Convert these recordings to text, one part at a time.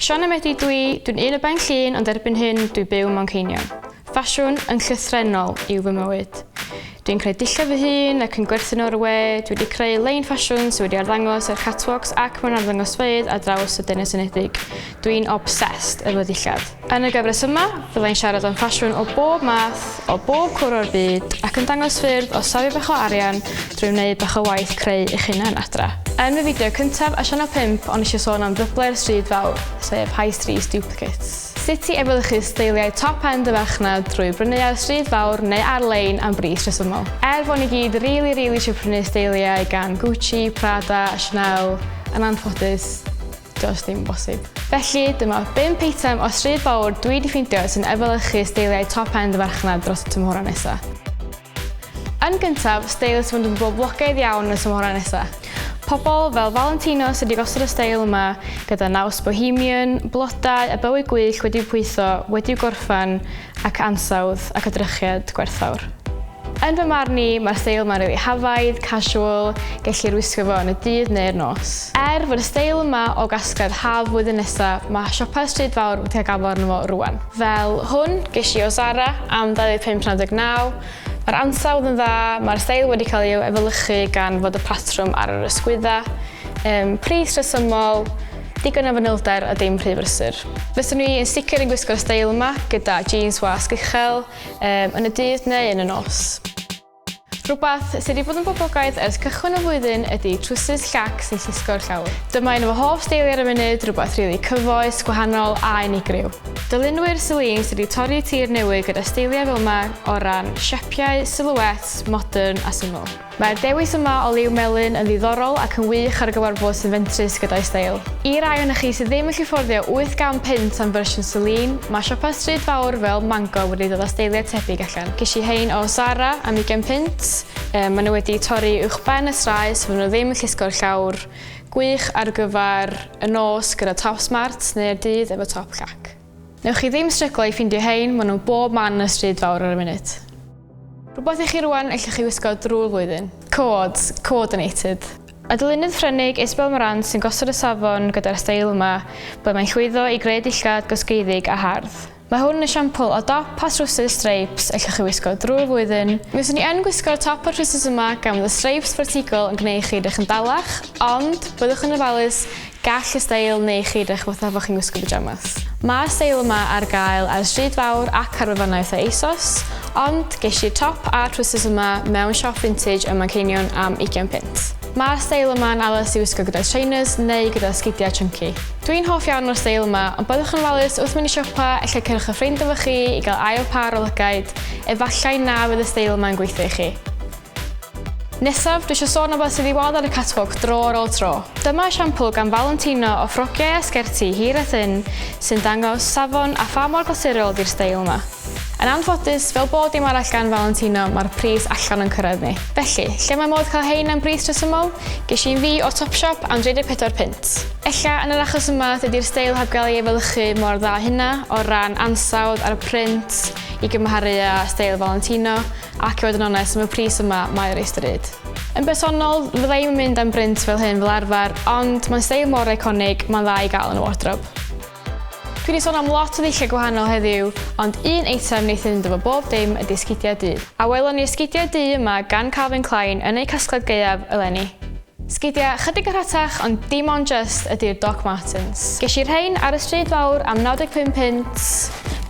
Sian a Medi dwi, dwi'n un o Ben Llun ond erbyn hyn dwi byw mewn ceinion. Ffasiwn yn llythrenol yw fy mywyd. Dwi'n creu dillad fy hun ac yn gwerthu nhw ar y we, dwi wedi creu lein ffasiwn sydd wedi arddangos ar catwalks ac mewn arddangosfeydd ar draws y Denes Unedig. Dwi'n obsessed efo ddillad. Yn y gyfres yma, fyddai'n siarad am ffasiwn o bob math, o bob cwr o'r byd, ac yn dangos ffyrdd o safio bach o arian drwy wneud bach o waith creu eich hunan adra. Yn fy fideo cyntaf a sianel 5 o'n isio sôn am ddyblo'r stryd fawr, sef High Street Duplicates. Sut i efelychu steiliau top end y farchnad drwy brynu ar y stryd fawr neu ar-lein am bris rhesymol. Er fo ni gyd rili rili isio prynu steiliau gan Gucci, Prada, Chanel, yn anffodus, Does dim yn bosib. Felly, dyma 5 eitem o stryd fawr dwi wedi ffeindio sy'n efelychu steiliau top-end y farchnad dros y tymhorau nesa. Yn gyntaf, steil sy'n mynd yn boblogaidd iawn yn y tymhorau nesa. Pobl fel Valentino sy wedi gosod y steil yma gyda naws bohemian, blodau a bywy gwych wedi'u pwytho, wedi'u gorffen, ac ansawdd ac edrychiad gwerthfawr. Yn fy marn i, mae'r steil yma'n rili hafaidd, casual, gellir wisgo fo yn y dydd neu'r nos. Er fod y steil yma o gasgliad haf flwyddyn nesa, mae siopau stryd fawr wedi cael gafal arno fo rŵan. Fel hwn gesh i o Zara am 25.99. Mae'r ansawdd yn dda, mae'r steil wedi cael ei efelychu gan fod y patrwm ar yr ysgwydda. Yym, pris rhesymol. Digon o fanylder a dim rhy brysur. Fyswn i yn sicr yn gwisgo'r steil yma gyda jeans wasg uchel, um, yn y dydd neu yn y nos. Rhywbeth sydd wedi bod yn boblogaidd ers cychwyn y flwyddyn ydy trwsus llac sy'n llusgo'r llawr. Dyma un o fy hoff steiliau ar y munud, rhywbeth rili really cyfoes, gwahanol a unigryw. Dylunwyr Celine sydd wedi torri tir newydd gyda steiliau fel yma o ran siapiau, silhouettes, modern a syml. Mae'r dewis yma o liw melyn yn ddiddorol ac yn wych ar gyfer bws sy'n fentrus gyda'i steil. I rai ohonoch chi sydd ddim yn gallu fforddio 80 punt am fersiwn Celine, mae siopau stryd fawr fel Mango wedi dod â steiliau tebyg allan. Ges i rhein o Zara am ugain punt. Yy, maen nhw wedi torri uwchben y strae so fyddan nhw ddim yn llusgo'r llawr. Gwych ar gyfer y nos gyda top smart neu'r dydd efo top llac. Newch chi ddim stryglo i ffindio hein, ma nhw bob man yn y stryd fawr ar y minute. Rhywbeth i chi rwan ellwch chi wisgo drwy'r flwyddyn. Cod, coordinated. Adolynydd Ffrengig Isabel Morant sy'n gosod y safon gyda'r steil yma, ble mae'n llwyddo i greu dillad gosgeiddig a hardd. Mae hwn yn esiampl o dop a thrwsus streips ellwch chi wisgo drwy'r flwyddyn. Mi fyswn i yn gwisgo'r top a'r trwsus yma gan fod y streips fertigol yn gneud chi edrych yn bellach, ond, byddwch yn ofalus, Gall y steil neu chi edrych fatha fo chi'n gwisgo pyjamas. Mae'r steil yma ar gael ar y stryd fawr ac ar wefannau fatha ASOS, ond ges i'r top a'r trowsus yma mewn siop vintage ym Manceinion am ugian punt. Mae'r steil yma'n addas i wisgo gyda trainers neu gyda sgidiau chunky. Dwi'n hoff iawn o'r steil yma, ond byddwch yn ofalus wrth mynd i siopa, efallai cerwch â ffrind efo chi i gael ail pâr o lygaid, efallai na fydd y steil yma'n gweithio i chi. Nesaf, dwi eisiau sôn am beth sydd i weld ar y catwalk dro ar ôl tro. Dyma esiampl gan Valentino o ffrogiau a sgerti hir a thynn sy'n dangos safon a pha mor glasurol ydy'r steil yma. Yn anffodus, fel bob dim arall gan Valentino, mae'r pris allan o'n cyrraedd ni. Felly, lle mae modd cael hein am bris rhesymol? Ges i un fi o Topshop am 34 punt. Ella, yn yr achos yma, dydy'r steil heb gael ei efelychu mor dda â hynna, o ran ansawdd a'r print, i gymharu â steil Valentino. Ac i fod yn onest, am y pris yma, mae o reit ddrud. Yn bersonol, fydda i'm yn mynd am brint fel hyn fel arfer, ond mae'n steil mor eiconig, mae'n dda i gael yn y wardrob. Dwi 'di sôn am lot o ddulliau gwahanol heddiw, ond un eitem wneith fynd efo bob dim ydi esgidiau du. A welon ni esgidiau du yma gan Calvin Klein yn eu casgliad gaeaf eleni. Sgidia chydig yn rhatach ond dim ond jyst ydy'r Doc Martens. Gesh i rhein ar y stryd fawr am 95 punt,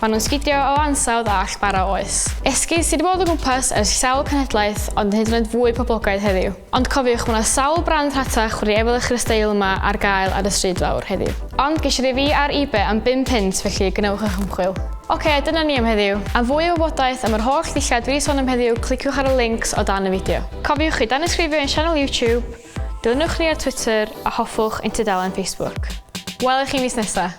ma nhw'n sgidio o ansawdd a all bara oes. Esgid sy di bod o gwmpas ers sawl cenhedlaeth ond yn hyd yn oed fwy poblogaidd heddiw. Ond cofiwch ma na sawl brand rhatach wedi efelychu'r steil yma ar gael ar y stryd fawr heddiw. Ond gesh i rei fi ar Ebay am bum punt felly gwnewch eich ymchwil. Ok dyna ni am heddiw. Am fwy o wybodaeth am yr holl ddulliau dwi di son am heddiw cliciwch ar y links o dan y fideo. Cofiwch i danysgrifio i'n sianel YouTube, dilynwch ni ar Twitter a hoffwch ein tudalen Facebook. Welwch chi mis nesaf!